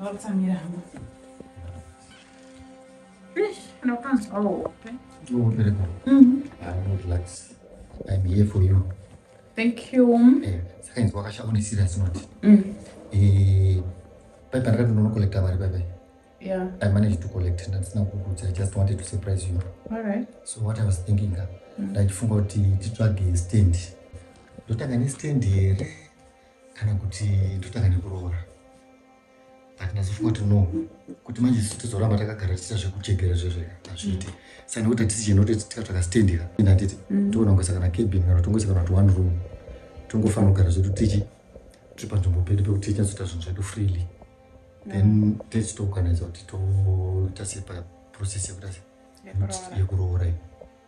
Ndotsamira hangu. Eish, unopanzwa hope. Oh, Bereko. Mhm. I'm not relax. I'm here for you. Thank you. Eh, saka inzwa wakashama une serious note. Mm. Eh, pai pandaka ndinono collecta mari pai pai. Yeah. I managed to collect ndandisina kukuudza. I just wanted to surprise you. All right. So what I was thinking ka. Ndachifunga kuti titsvage stand. Ndotanga ne stand here. kana kuti totanga nekuroora but nazofunga kuti no kuti manje tozoramba takagara tiita zvekuchegera zvezve hazviite saka nekuti hatisi chinhu kuti tika takasitendera ende handiti mm. toona kungoisa kana cabin kana tongoisa kana kuti one room tongofanira kugara zvedu tichi tiri panzvimbo pedu pekuti tinyatsoita zvinhu zvedu freely then mm. techitoorganiza kuti toita sei paprocess yekuita sei yekuroora iyi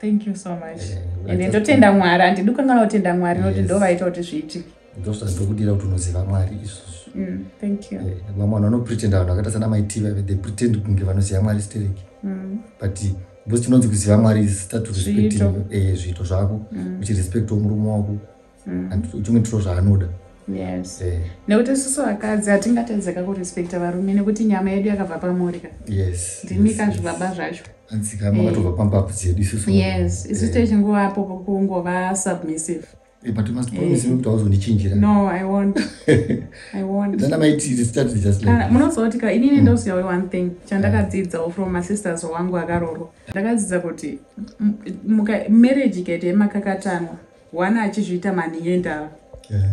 thank you so much eh, ende ndotenda mwari handidi kukanganwa kutenda mwari nokuti ndo vaita kuti zviitike ndosvika ndokudira kuti unoziva mwari izvozvo mm, thank you eh, vamwe vanhu vanopretenda vanhu vakaita sana maiti vave they pretend kunge vanoziva mwari stereki mm. but because tinonzi kuziva mwari is start to respecting eh, zviito zvako mm. uchirespectawo murume wako mm. and uchimwe tiro zvaanoda yes eh. nekuti isusu vakadzi hatingatadzeka kurespekta varume nekuti nyama yedu yakabva pamorika yes ndimika yes, zvibaba yes. zvacho anzika makatobva eh. pambapu dzedu isusu yes isu eh. techingovapo kungova submissive Eh, but you must promise me kuti hauzondichinjira no i won't i won't then i might start just like ah, munozoti ka inini mm. ndosiyawe one thing chandakadzidzawo from masisters wangu akarorwa ndakadzidza kuti marriage ikaita yemakakatanwa Wana achizviita manhingi endava. Yeah.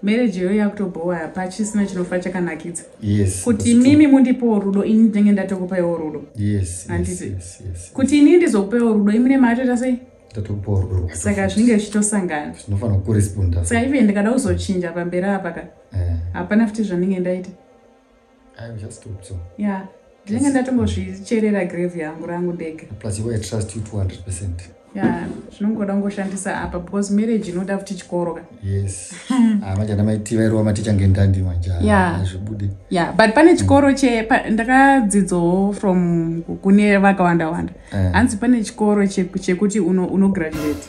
Marriage yoyo yakutobhowa hapa chisina chinofa chakanakidza. Yes. Kuti mimi mundipo rudo ini ndenge ndatokupa iwo rudo. Yes. Yes, yes, yes. Kuti ini ndizokupa iwo rudo imune maatoita sei? Ndatokupa rudo. Saka zvinenge zvichitosangana. Zvinofana ku respond. Saka even ndikada kuzochinja pamberi apa ka. Eh. Hapana futi zvanenge ndaita. I'm just thought so. Yeah. Ndinenge ndatombozvicherera grave yangu rangu ndege. Plus you I trust you 200%. Yeah, zvinongoda kungoshandisa apa because marriage inoda futi chikoro ka. Yes. Ah manje ana maiti vairova maticha ngendandi manje. Yeah. Azvibude. Yeah, but pane chikoro mm. che ndakadzidzo from kune vakawanda wanda. Eh. Hanzi pane chikoro chekuti uno uno graduate.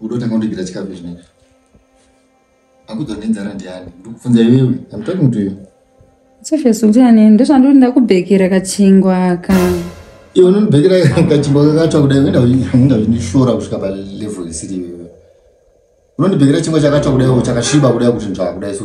Udotanga kundigira chikafu izvi neizvi. Akudzwa nenzara ndiani? Ndikufunza iwewe. I'm talking to you. Sofes ndiani? Ndozvandiri ndakubhekera kachingwa aka. Iwe unondibhekera kachingwa kakatsva kudai uenda uenda uchindishora kusvika pa level isiri iwewe. Unondibhekera chingwa chakatsva kudai chakasviba kudai kuti nzvaa kudai so.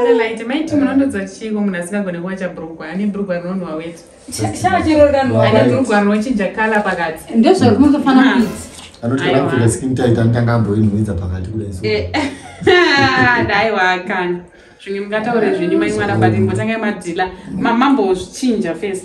Adelaide, maiti munondodzwa chiiko munhu asingagone kuwacha brugwa ane brugwa rinonhuwa weti ane brugwa rinochinja kala pakati ndozvakunozofana kuiti anotiakuita skin tight anotanga amboinhuwidza pakati kudai dai wakana zvimwe mungataure zvenyu mai mwana but imbotangai madhila mamambozvichinja first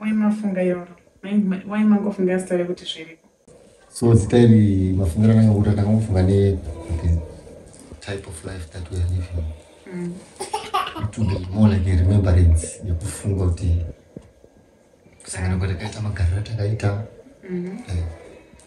Why mafunga iroro? Why mangofunga zita rekuti zviriko? So zita iri mafungira nanga kuti ndakangofunga ne okay, type of life that we are living. Mm. It will be more like a remembrance yekufunga kuti kusangana kwatakaita magariro atakaita. Mm -hmm. eh.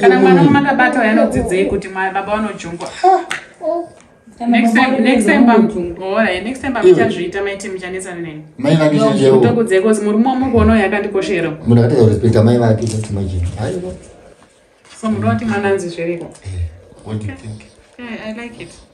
kana mwana makabata uyo anodzidzei kuti baba vanojungwa next time pamuchazviita maiti muchanetsana neni ndokudzei bcause murume wamukuona uyo akandikoshera munhu akatadza kurespekta mai vake just imagine so munhu wati mwana anzi zviriko eh, what do you think yeah, i like it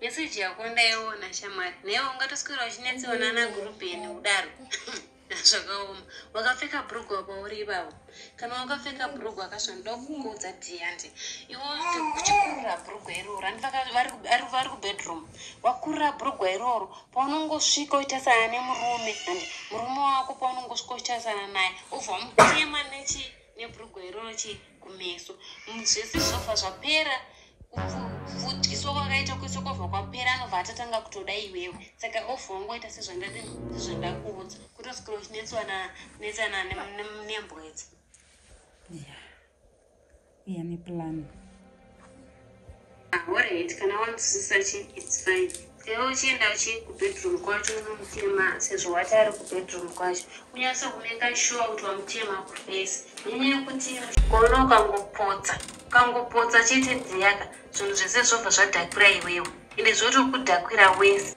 Message yako ndaiona shamwari. Newe ungatoswera uchinetsewa nana group ene udaro. Zvakaoma. Wakapfeka brugwa apa uri ibawo. Kana wakapfeka brugwa akasho ndokukuudza Diante. Iwo kuchikurira brugwa iroro. Andipaka vari vari vari ku bedroom. Wakurira brugwa iroro. Paunongosvika uita sana nemurume. Andi murume wako paunongosvika uita sana naye. Ubva mutema nechi nebrugwa iroro che kumeso zvese zvinobva zvapera kuvhudiswa kwakaita kuiswa kwabva kwapera anobva atatanga kutoda iwewe saka obva wangoita sezvandati sezvandakuudza kutosukira uchinetsana netsana nembwedza iya neplan Alright, kana wanzwisisa chi it's fine. Iwe uchienda uchi kubedroom kwacho unomutema sezvo wati ari kubedroom kwacho. Unyase kumeka sure kuti wamutema kufesi. Nyanya yekuti muchikoro ukangopotsa, ukangopotsa chete dziyaka, zvinhu zvese zvobva zvadhakwira iwewe. Ende zvotokudhakwira wese.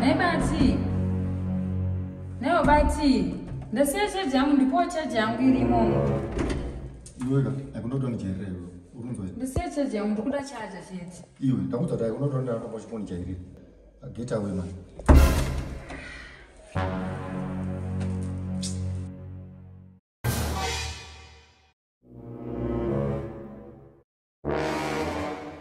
Nhai bati. Nhai bati. Ndasiya charge yangu ndipo charge yangu irimo. Iweka, akundokuta nijerere iwe. Urunzwa. Ndasiya charge yangu ndikuda charge chete. Iwe, ndakuti atai unotora ndara kwa chiponi chairi. Get away man.